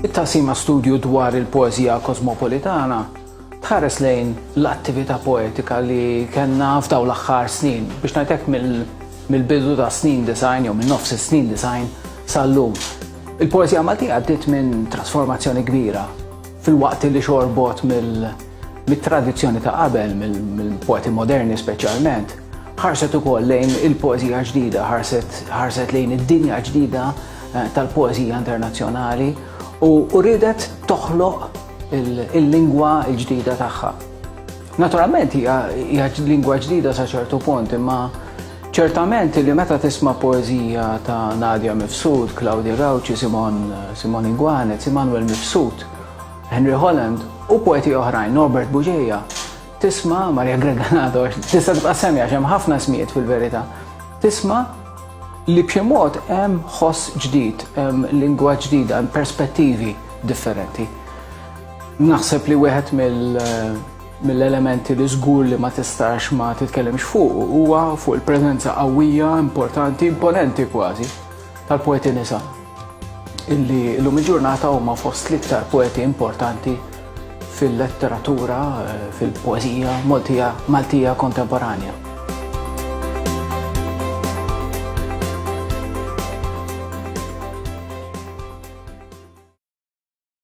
It-taqsima studju dwar il-poeżija kosmopolitana tħares lejn l-attività poetika li kellna f'daw l-aħħar snin biex ngħidlek mill-bidu ta' snin design jew minn nofs is-snin design sal-lum. Il-poeżija Maltija għaddiet minn trasformazzjoni kbira fil-waqt li xorbot mill- Mit-tradizzjoni ta' qabel, mill-poeti moderni speċjalment, ħarset ukoll lejn il-poeżija ġdida, ħarset lejn id-dinja ġdida eh, tal-poeżija internazzjonali u ridet toħloq il-lingwa l-ġdida tagħha. Naturalment hija lingwa ġdida sa ċertu punt, imma ċertament li meta tisma' poeżija ta' Nadja Mifsud, Claudia Rauci, Simon Simon Iguanet, Immanuel Mifsud, Henry Holland u poeti oħrajn Norbert Buġeja, tisma' Maria Greganato, tista' tibqa' semmi għax hemm ħafna smijiet fil-verità. Tisma' li b'xi mod hemm ħoss ġdid, hemm lingwa ġdida, hemm perspettivi differenti. Naħseb li wieħed mill-elementi li żgur li ma tistax ma titkellimx fuq huwa fuq il-preżenza qawwija, importanti, imponenti kważi tal-poeti nisa illi l-lum il-ġurnata huma fost l-iktar poeti importanti fil-letteratura, eh, fil-poezija Maltija, Maltija kontemporanja.